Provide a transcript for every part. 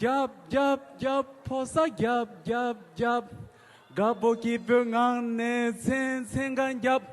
རྒྱབ་རྒྱབ་རྒྱབ་ཕོ་ས་རྒྱབ་རྒྱབ་རྒྱབ། དགའ་བོ་སྐྱིད་པོའི་ངང་ནས་ཚན་ཚན་གང་རྒྱབ།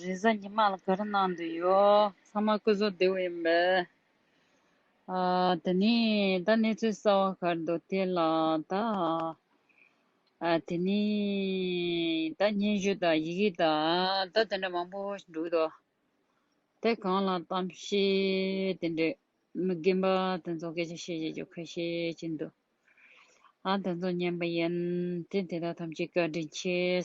རེས་གཟའ་ཉི་མ་ལ་ག་རེ་གནང་འདོད་ཡོད། ཚང་མ་སྐུ་གཟུགས་བདེ་བོ་ཡིན་པས། དེ་ནས་ད་གནས་ཚུལ་གསལ་བ་ག་རེ་འདུག་དེ་ལ་ད། དེ་ནས་ད་སྙན་བརྒྱུད་དང་ཡི་གེ་དང་ད་དེ་འདྲ་མང་པོ་ཞིག་འདུག་དོ། དེ་གང་ལ་གཏམ་བཤད་དེ་འདྲས་མི་རྒན་པ་དེ་ཚོ་སྐད་ཆ་བཤད་བྱེད་ཀྱི་ཁ་ཤས་ཅིག་འདུག་ཨང་དེ་ཚོ་ཉན་པ་ཡིན་དེ་དེ་དག་ཐམས་ཅད་བཀའ་དྲིན་ཆེ།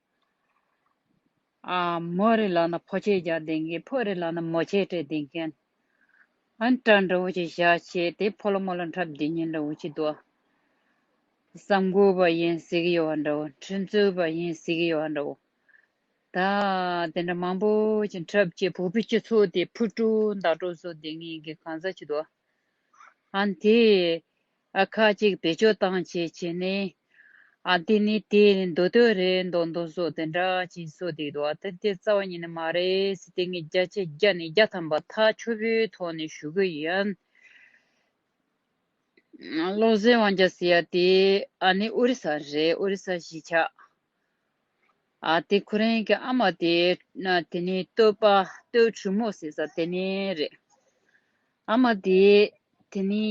མོ་རེ་ལག་ན་ཕོ་ཆས་བཞག་བསྡད་མཁན་ཕོ་རེ་ལག་ན་མོ་ཆས་སྤྲད་བསྡད་མཁན། ཨང་གྲངས་འདྲ་བོ་ཞིག་བཞག་བྱས་ཏེ་ཕོ་ལོ་མོ་ལོ་འཁྲབ་བདེ་ཉེན་འདྲ་བོ་ཞིག་འདུག་བསམ་དགོས་པ་ཡིན་གཟིགས་ཡོད་བ་འདྲ་བོ་འཕྲིན་རྩོད་པ་ཡིན་གཟིགས་ཡོད་བ་འདྲ་བོ། ད་དེ་འདྲ་མང་པོ་ཞིག་འཁྲབ་ཆེད་བུ་ཕོ་སྤྱི་ཚོགས་དེ་ཕུ་དཀྲུག་མདའ་དཀྲུག་བཟོ་བསྡད་ངེས་ཀྱི་གང་ཟག་ཅིག་འདུག་ཨང་དེས་ཨ་ཁ་ཅིག་བེད་སྤྱོད་བཏང་བྱས་བྱས་ནས། ཨ་འདི་ནི་དེ་མདོ་སྟོད་རེད་མདོ་མདོ་སོགས་དེ་འདྲ་ཅིག་གསོལ་འདུག་འདུག་ཨ་ཐེ་ཐེ་རྩ་བ་ཉིད་ནས་མ་རེད་དེ་ངས་བརྒྱ་ཆ་བརྒྱ་ནས་བརྒྱ་ཐམ་པ་ཐག་ཆོད་པོའི་ཐོག་ནས་ཞུ་གི་ཡིན། བློ་གཟེར་དབང་རྒྱ་ཟེར་ཡ་དེ་ཨ་ནི་ཨོ་རི་ས་རེད་ཨོ་རི་ས་གཞིས་ཆགས། དེ་ཁོ་རང་གི་ཨ་མ་དེ། དེ་ནི་སྟོད་པ་སྟོད་གྲུ་མོ་ཟེར་ས་དེ་ནི་རེད། ཨ་མ་དེ། དེ་ནི།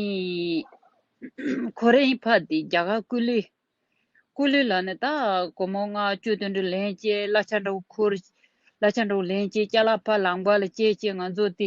ཁོ་རང་ཕ་དེ་རྒྱ་གར་སྐུ་ལུས། སྐུ་ལུས་ལ་ནི་ད་གོ་མོ་ལྔ་བཅུ་དོན་དྲུག་ལན་བཅས་བླ་ཆ་འདྲ་བོ་ཁུར། བླ་ཆ་འདྲ་བོ་ལན་བཅས་སྐྱ་ལ་ཕ་ལངས་པ་ལ་བཅས་བཅས་ང་ཚོ་དེ།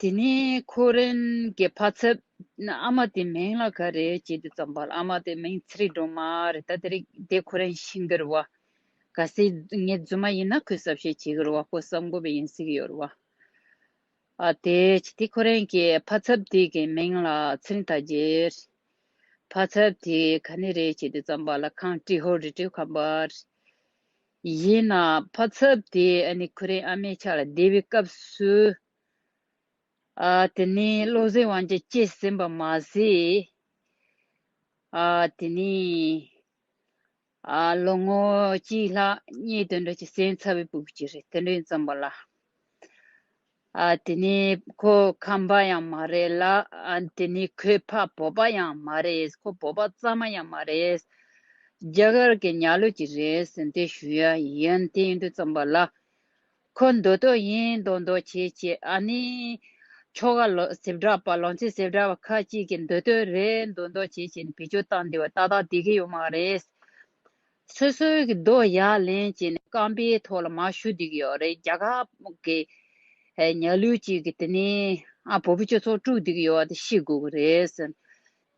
དེ་ནས་ཁོ་རེན་གྱི་ཕ་ཚབ། ཨ་མ་དེའི་མིང་ལ་ག་རེ་བྱེད་དུ་བརྩམས་པ་ལ་ཨ་མ་དེའི་མིང་ཚེ་རིང་སྒྲོལ་མ་རེད་ད་དེ་རིང་དེ་ཁོ་རེན་ཤི་འགྱུར་བ། ག་སྲིད་ངའི་རྫུན་མ་ཡིན་ན་ཁོས་གསབ་བཤད་བྱེད་གྱུར་བ་ཁོ་གསབ་མགོ་བའི་ཡིན་སྲིད་ཡོད་བ། དེ་དེ་ཁོ་རེན་གྱི་ཕ་ཚབ་དེ་གའི་མིང་ལ་ཚེ་རིང་ཐ་རྗེ་རེད། ཕ་ཚབ་དེ་ག་ནི་རེ་བྱེད་དུ་བརྩམས་པ་ལ་ཁང་ཀྲི་ཧོར་རི་ཀྲི་ཁམས་པ་རེད། ཡིན་ན་བ་ཚབ་དེ་ཁུ་རེན་ཨ་མའི་ཕྱག་ལ་བསྡད་པའི་སྐབས་སུ་དེ་ནས་བློ་གཟེར་དབང་ཆ་སྐྱེས་ཟིན་པ་མ་ཟད། དེ་ནས་ལོ་ངོ་གཅིག་ལྷག་གཉིས་དུད་འགྲོ་གཅིག་གསན་ཚར་བའི་བུ་གཅིག་རེད་དེ་འདྲས་འཛོམས་པ་ལ། དེ་ནི་ཁོ་ཁམས་པ་ཡང་མ་རེད་ལ་དེ་ནི་ཁོའི་ཕ་བོད་པ་ཡང་མ་རེད་ཁོ་བོད་པ་རྩ་མ་ཡང་མ་རེད་རྒྱ་གར་གྱི་ཉག་ལོད་ཅིག་རེད་ཟེར་འདི་ཞུ་ཡ་ཡིན་དེ་ཡིན་དུས་རྩོམ་པ་ལ་ཁོ་མདོ་སྟོད་ཡིན་མདོ་མདོ་བྱེད་བྱེད་ཨ་ནི་ཁྱོ་ག་ལོ་སེབ་བྲག་པ་ལོང་ཚེ་སེབ་བྲག་པ་ཁ་ཅིག་གིས་མདོ་སྟོད་རེད་མདོ་མདོ་བྱེད་བྱེད་ནི་བེད་སྤྱོད་བཏང་འདི་བ་ཏག་ཏག་བསྡད་ཀྱི་ཡོད་མ་རེད། སོ་སོའི་གི་རྡོ་ཡ་ལེན་བྱས་ནས་རྐང་པའི་ཐོག་ལ་མ་ཞུ་བསྡིགས་ཡོད་རེད་རྒྱ་གར་གི་ཉལ་གླུ་ཅིག་གི་དེ་ནས་ཨ་བོ་བོ་ཅོ་ཚོ་དཀྲུག་བསྡིགས་ཡོད་བ་དེ་ཤེས་དགོས་གི་རེད།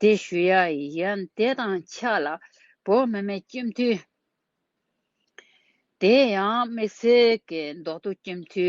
དེ་ཞུ་ཡ་ཡིན་དེ་དང་ཆ་ལ་བོད་མི་མེད་སྐྱིད་མཐུ། དེ་ཡང་དམིགས་བསལ་གི་མདོ་སྟོད་སྐྱིད་མཐུ།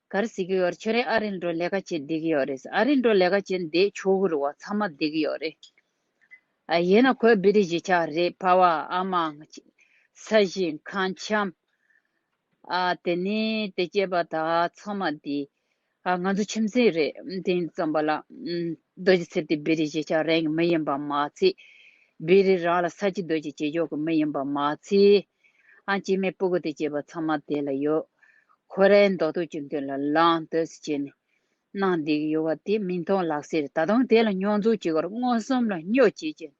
གར་གཟིགས་ཀྱི་ཡོད་རེད་ཁྱོད་རང་ཨ་རིར་འགྲོ་ལས་ཀ་བྱེད་བསྡད་ཀྱི་ཡོད་རེད་ཨ་རིར་འགྲོ་ལས་ཀ་བྱེད་འདས་ཆོག་གི་རེད་བ་ཚང་མ་བསྡད་ཀྱི་ཡོད་རེད། ཡིན་ན་ཁོས་བི་རི་གཞིས་ཆགས་རེད་བྷ་བ་ཨ་མ། ས་གཞི། ཁང་ཁྱམ། དེ་ནི་དེ་སྐྱེས་པ་དག་ཚང་མ་འདི། ང་ཚོ་ཁྱིམ་མཚེས་རེད་དེང་རྩོམ་པ་ལ། རྡོ་རྗེ་ཚེ་བརྟན་བི་རི་གཞིས་ཆགས་རང་གི་མི་ཡིན་པ་མ་ཚད། བི་རི་རང་ལ་ས་གཅིག་རྡོ་རྗེ་བྱེད་ཆོག་གི་མི་ཡིན་པ་མ་ཚད། ཨང་དཀྱིལ་མའི་སྤུ་གུ་དང་བཅས་པ་ཚང་མ་དེ་ལ་ཡོད། ཁོ་རའི་མདོག་དུག་ཅུང་ཐུང་ལ་ལང་དོད་སུ་བྱས་ནས། སྣང་འདུས་ཡོད་པ་དེ་མི་མཐོང་ལགས་ཟེར་ད་དུང་དེ་ལ་རྙོག་འཛུགས་བྱེད་ཁར་མངོན་སུམ་ལ་སྨྱོ་བྱེད་ཅིང།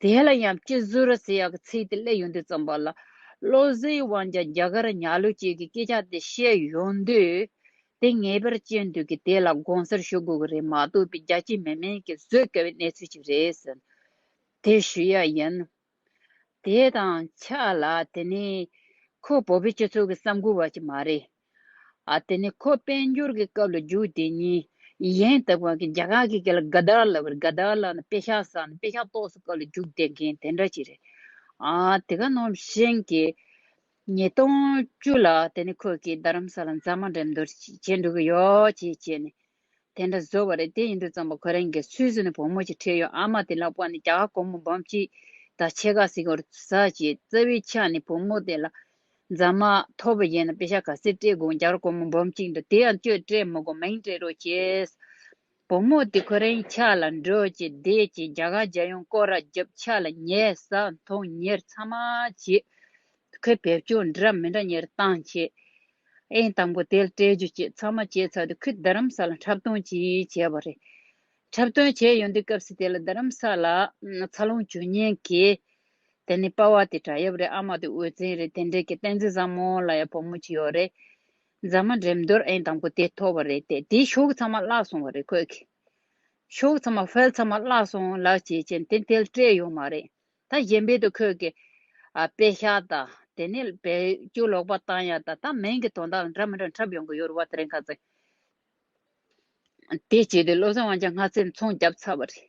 དེ་ལ་ཡང་སྤྱི་ཟུར་ཟེར་ཡག་གི་ཚིག་དེ་གླེགས་ཡོང་དུས་རྩོམ་པ་ལ་བློ་གཟེའི་དབང་ཆ་རྒྱ་གར་ཉག་ལོ་བཅས་ཀྱི་སྐད་ཆ་དེ་བཤད་ཡོང་དུས། དེ་ངེས་པར་སྤྱི་འདུས་ཀྱིས་དེ་ལ་དགོངས་སེལ་ཞུ་དགོས་ཀྱི་རེད་མ་གཏོགས་པའི་རྒྱ་ཆེའི་མི་མིན་གྱིས་བཟོད་དཀའ་བའི་གནས་ཚུལ་ཞིག་རེད་ཟེར། དེ་ཞུ་ཡག་ཡིན། དེའི་དང་ཆ་ལ་དེ་ནི་ཁོ་བོད་པའི་སྤྱི་ཚོགས་ཀྱི་བསམ་བཀོད་བ་ཅིག་མ་རེད། དེ་ནི་ཁོ་དཔལ་འབྱོར་གྱི་སྐབས་ལ་རྒྱུགས་དེ་ཉིད་གཞན་དག་པ་གིས་རྒྱ་གར་གྱི་སྐད་ལ་དགའ་དར་ལབ་པར་དགའ་དར་ལབ་ན་དཔེ་ཤག་བསགས་ནས་དཔེ་ཤག་ཏོག་སོ་སྐབས་ལ་རྒྱུགས་དེ་མཁན་དེ་འདྲ་ཅིག་རེད། དེ་ག་ནོར་གཞན་གྱི་ཉིས་སྟོང་བཅུ་ལ་དེ་ནི་ཁོ་གིས་རྡ་རམ་ས་ལ་མཛངས་མ་འགྲན་བསྡུར་ཅིག་བྱེད་འགྲོ་གི་ཡོད་ཅེས་བྱས་ནས་དེ་འདྲ་བཟོ་བ་རེད་དེ་ཡིན་དུས་རྩོམ་པ་ཁོ་རང་གིས་ཚུལ་བཟོ་ནས་བུ་མོ་ཞིག་ཁྲིད་ཡོང་ཨ་མ་དེ་ལ་བཀོག་ནས་རྒྱ་གར་སྒོར་མོ་འབུམ་གཅིག་དང་ཕྱེད་ཀ་ཟིག་བོར་ཟ་ཞེས་རྩ་བའི་ཆ་ནས་བུ་མོ་དེ་ལ་མཛའ་མ་ཐོབ་པ་ཡིན་ན་དཔེ་ཆ་ག་ཚད་སྤྲད་དགོངས་རྒྱ་གར་སྒོར་མོ་འབུམ་གཅིག་འདུག་དེ་ཡང་གཅོད་སྤྲད་མི་དགོ་མིང་སྤྲད་རོགས་ཞེས། བུ་མོ་དེ་ཁོ་རང་གི་ཕྱག་ལ་འགྲོ་ཅེས་བསྡད་རྗེས་རྒྱ་གར་རྒྱལ་ཡོངས་སྐོར་ར་བརྒྱབ་ཕྱག་ལ་ཉལ་ས་མཐོང་ཉེར་མཚམས་མ་བྱས། ཁོས་བེད་སྤྱོད་འདྲ་མི་འདྲ་གཉེར་སྟངས་བྱེད། ཨེ་དང་པོ་དེལ་སྤྲད་རྒྱུ་བཅས་ཚང་མ་བྱས་ཚར་དུས་ཁོས་རྡ་རམ་ས་ལ་འཁྲབ་སྟོན་གྱིས་བྱས་པ་རེད། འཁྲབ་སྟོན་བྱས་ཡོང་དུས་སྐབས་སུ་དེ་ལ་རྡ་རམ་ས་ལ་འཚར་ལོངས་བྱུང་ཉེན་ཁའི། དེ་ནི་དཔའ་བ་དེ་བྲག་ཡབ་རེད་ཨ་མ་དེ་འོད་བཙན་རེད་དེ་འདྲའི་གི་བསྟན་འཛིན་བཟང་མོ་ལ་ཡང་བུ་མོ་གཅིག་ཡོད་རེད། མཛངས་མ་འགྲེམས་རྡོར་ཨེ་དང་པོ་དེ་ཐོབ་པ་རེད་དེ་དེའི་ཤོག་ཚང་མ་བརླག་སོང་བ་རེད་ཁོས་གི་ཤོག་ཚང་མ་ཕལ་ཚང་མ་བརླག་སོང་ལགས་བྱས་རྐྱེན་དེ་དེལ་སྤྲད་ཡོང་མ་རེད། ད་གཞན་པའི་དུ་ཁོད་ཀྱི། པའི་ཤ་དང། དེ་ནས་བལ་སྐྱུ་ལོག་པ་བཏང་ཡ་དང་ད་མན་གྱི་དོན་དག་ལ་འདྲ་མི་འདྲ་འཁྲབ་ཡོང་གི་ཡོད་རུ་བ་དེ་རིང་ཁ་ཚ། དེ་བྱས་ཏེ་བློ་བཟང་དབང་ཆ་སྔ་ཚེ་འཚོང་རྒྱབ་ཚར་བ་རེད།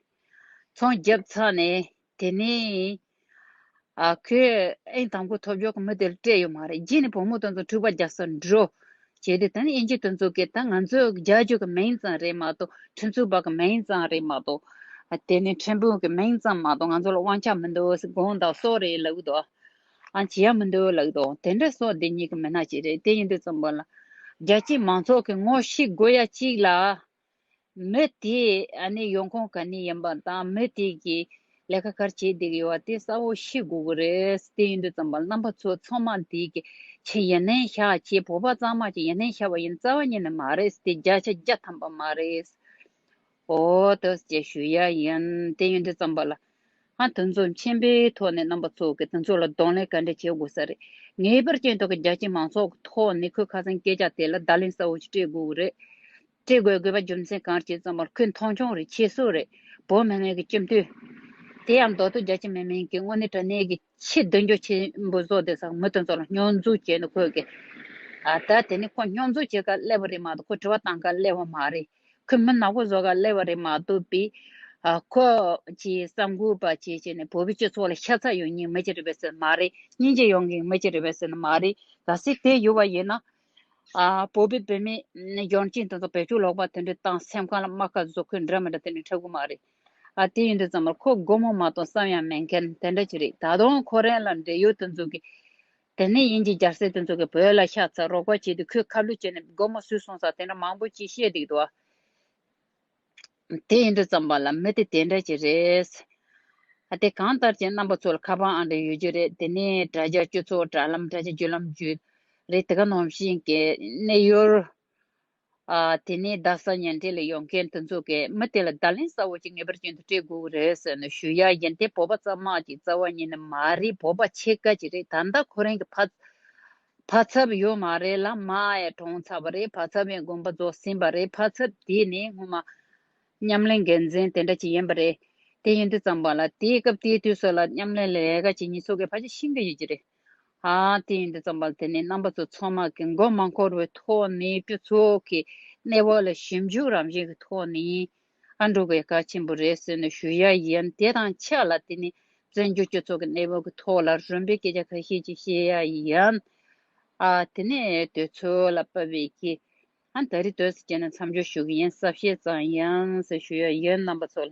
འཚོང་རྒྱབ་ཚར་ནས་དེ་ནས། ཁོས་ཨེ་དང་པོ་ཐོབ་ཆོག་གི་མི་དེ་ལ་སྤྲད་ཡོད་མ་རེད་རྗེས་ནས་བུ་མོ་དང་ཚོ་འཁྲུག་པ་རྒྱག་སར་འགྲོ། བྱས་ཏེ་དང་དབྱེ་འབྱེད་དུ་འཛུགས་ཀྱི་དང་ང་ཚོས་རྒྱ་རྒྱུད་ཀྱི་མིང་ཙམ་རེད་མ་གཏོགས་ཁྲིམས་རྩོད་པ་གི་མིང་ཙམ་རེད་མ་གཏོགས། དེ་ནི་ཁྲིམས་དཔོན་གི་མིང་ཙམ་མ་གཏོགས་ང་ཚོ་ལ་དབང་ཆ་མི་འདུག་དགོངས་དག་སོགས་རེད་ལགས་དོ། ཨང་ཇི་ཡང་མི་འདུག་ལགས་དོ་དེ་འདྲ་སོགས་འདི་གཉིས་ཀྱི་མི་སྣ་གཅིག་རེད་དེ་ཡིན་དུས་ཙམ་པོ་ལ། རྒྱལ་སྤྱིའི་མང་ཚོགས་ཀྱི་ངོ་ཤེས་དགོས་ཡ་གཅིག་ལ། མི་དེའི་ཡོང་ཁུངས་ག་ནས་ཡིན་པ་དང་མི་དེ་གིས་ལས་ཀ་གར་བྱེད་བསྡད་ཡོད་པ་དེ་གསལ་བོ་ཤེས་དགོས་ཀྱི་རེད་དེ་ཡིན་དུས་རྩམ་པ་རྣམ་པ་ཚོ་ཚང་མ་དེ་གི་ཆེད་ཡིན་ནའི་ཤ་ཆེ་བོ་པ་གཙང་མ་གྱི་ཡིན་ནའི་ཤ་བ་ཡིན་རྩ་བ་ཉིད་ནས་མ་རེད་དེ་བརྒྱ་ཆ་བརྒྱ་ཐམ་པ་མ་རེད་ཨོ་ཏོ་ཞེས་ཞུ་ཡ་ཡིན་དེ་ཡིན་དུས་རྩམ་པ་ལ་ང་དང་ཚོགས་མཆན་པའི་ཐོག་ནས་རྣམ་པ་ཚོ་གི་དང་ཚོགས་ལ་གདོང་ལེན་ག་འདྲ་བྱེད་དགོས་ས་རེད། ངའི་པར་ཅན་ཐོག་གི་རྒྱ་ཆེ་མང་ཚོགས་ཀྱི་ཐོག་ནས་ཁོའི་ཁ་སང་སྐད་ཆ་དེ་ལ་བརྡ་ལན་གསལ་བོ་ཞིག་སྤྲད་དགོས་ཀྱི་རེད། སྤྲད་དགོས་དགོས་པ་རྒྱུ་མཚན་གང་རེད་ཅེས་ཙང་པར་ཁོས་མཐོང་ཆུང་རེ་བྱེད་སྲོལ་རེད། བོད་མི་མང་གི་སྤྱི་འཐུས། དེ་ཡང་མདོ་སྟོད་རྒྱ་ཆེ་མི་མང་གི་དངོས་གནས་དྲ་གནས་ཀྱི། ཆེས་མདུན་སྐྱོད་ཆེན་པོ་བཟོ་དེ་ཟག་མི་དོན་ཚོགས་ལ་སྙོན་འཛུགས་བྱས་འདུག་ཁོས་ཀྱི། ད་དེ་ནི་ཁོ་སྙོན་འཛུགས་བྱེད་ག་ལེ་བ་རེད་མ་གཏོགས་ཁོ་དྲི་བ་གཏང་ག་ལེ་བ་མ་རེད། ཁོས་མི་ནག་པོ་བཟོ་ག་ལེ་བ་རེད་མ་གཏོགས་པི། ཁོ་ཀྱིས་གསར་འགོད་པ་བྱས་བྱས་ནས་བོད་པའི་སྤྱི་ཚོགས་ལ་ཤ་ཚ་ཡོད་ཉིན་མི་ཅི་རེད་པས་ཟེར་ནི་མ་རེད་སྙིང་རྗེ་ཡོང་གིན་མི་ཅི་རེད་པས་ཟེར་ནི་མ་རེད་ག་སྲིད་དེ་ཡོད་པ་ཡིན་ན། བོད་པའི་བུད་མེད་ཡོང་ཅིང་དོན་ཚོགས་བེད་སྤྱོད་ལོག་པ་དེ་འདྲ་དང་སེམས་ཁམས་ལ་རྨ་ཁ་བཟོ་ཁུལ་འདྲ་མི་འདྲ་དེ་འདྲ་འཁྲབ་གི་མ་རེད། ཨ་དེ་ཡིན་དུས་ཙམ་ལ་ཁོ་སྒོར་མོ་མ་གཏོང་བསམ་ཡང་མེད་མཁན་དེ་འདྲ་ཅིག་རེད་ད་དུང་ཁོ་རང་ལ་འབྲེལ་ཡོད་དུ་འཛུགས་ཀྱི། དེ་ནས་དབྱིན་ཇི་རྒྱ་སེ་དུ་འཛུགས་ཀྱི་བོད་ལ་ཤ་ཚ་རོགས་པ་བྱས་དུས་ཁོས་ཁ་བསླུས་བྱས་ནས་སྒོར་མོ་ཟུས་སོང་ས་དེ་འདྲ་མང་པོ་ཅིག་བཤད་འདུག་དོ། དེ་ཡིན་དུས་ཙམ་པ་ལ་མི་དེ་དེ་འདྲ་ཅིག་རེད། ཨ་དེ་གང་ལྟར་ཁྱེད་རྣམ་པ་ཚོ་ལ་ཁ་པང་ཨང་གྲངས་ཡོད་རྒྱུ་རེད་དེ་ནས་དྲ་རྒྱ་བཅུ་ཚོགས་དྲ་ལམ་དྲ་རྒྱ་བརྒྱུད་ལམ་བརྒྱུད་རེད་དེ་ག་ནོམ་ཞིག་གནས་ཡོད། དེ་ནས་བདག་བཟའ་ཉལ་འདྲེན་ལ་ཡོང་མཁན་དེ་ཚོ་གས་མི་དེ་ལ་བརྡ་ལན་གསལ་བོ་གཅིག་ངེས་པར་བྱིན་དུ་སྤྲད་དགོས་ཀྱི་རེད་ཟེར་ནས་ཞུ་ཡ་ཡིན་དེ་བོད་པ་རྩ་དམག་གི་རྩ་བ་ཉིད་ནི་མ་རེད་བོད་པ་ཆེ་དཀའ་གྱི་རེད་ད་ལྟ་ཁོ་རང་གི་ཕ་ཕ་ཚབ་ཡོད་མ་རེད་ལ་མ་ཡ་གྲོངས་ཚར་བ་རེད་ཕ་ཚབ་ཡང་དགོན་པ་རྫོགས་ཟིན་པ་རེད་ཕ་ཚབ་དེ་ནི་སྔོན་མ་མཉམ་ལས་འགན་འཛིན་དེ་འདྲ་གཅིག་ཡིན་པ་རེད་དེ་ཡིན་དུས་ཙམ་པ་ལ་དེའི་སྐབས་དེའི་དུས་སུ་ལ་མཉམ་ལས་ལས་ཀ་བྱེད་མྱི་ཚོ་གས་ཕ་ཆེ་ཤིན་ཏུ་ཡོད་ཀྱི་རེད་དེ་ཡིན་དུ་བརྩམས་པ་དེ་ནི་རྣམ་པ་ཚོ་ཚང་མ་གི་མགོ་མ་འཁོར་བའི་ཐོག་ནས་སྤྱི་ཚོགས་ཀྱི་གནས་བབ་ལ་ཞིབ་འཇུག་རང་བཞིན་གྱི་ཐོག་ནས་ཡིན་འགྲོ་བའི་གལ་ཆེན་པོ་རེད་ཟེར་ནས་ཞུ་ཡ་ཡིན་དེ་དང་ཆབས་ལ་དེ་ནི་བཙན་བྱོལ་སྤྱི་ཚོགས་ཀྱི་གནས་བབ་ཀྱི་ཐོག་ལ་རུམ་པའི་སྐད་ཆ་ཁ་ཤས་ཅིག་བཤད་ཡ་ཡིན། དེ་ནས་དོལ་ཚོལ་ལ་པ་བེ་ཀི་ཨན་ད་རི་དོལ་ཟེར་བྱས་ནས་མཚམས་སྦྱོར་ཞུ་གི་ཡིན་གསབ་བཤད་ཙང་ཡིན་ཟེར་ཞུ་ཡ་ཡིན་རྣམ་པ་ཚོ་ལ།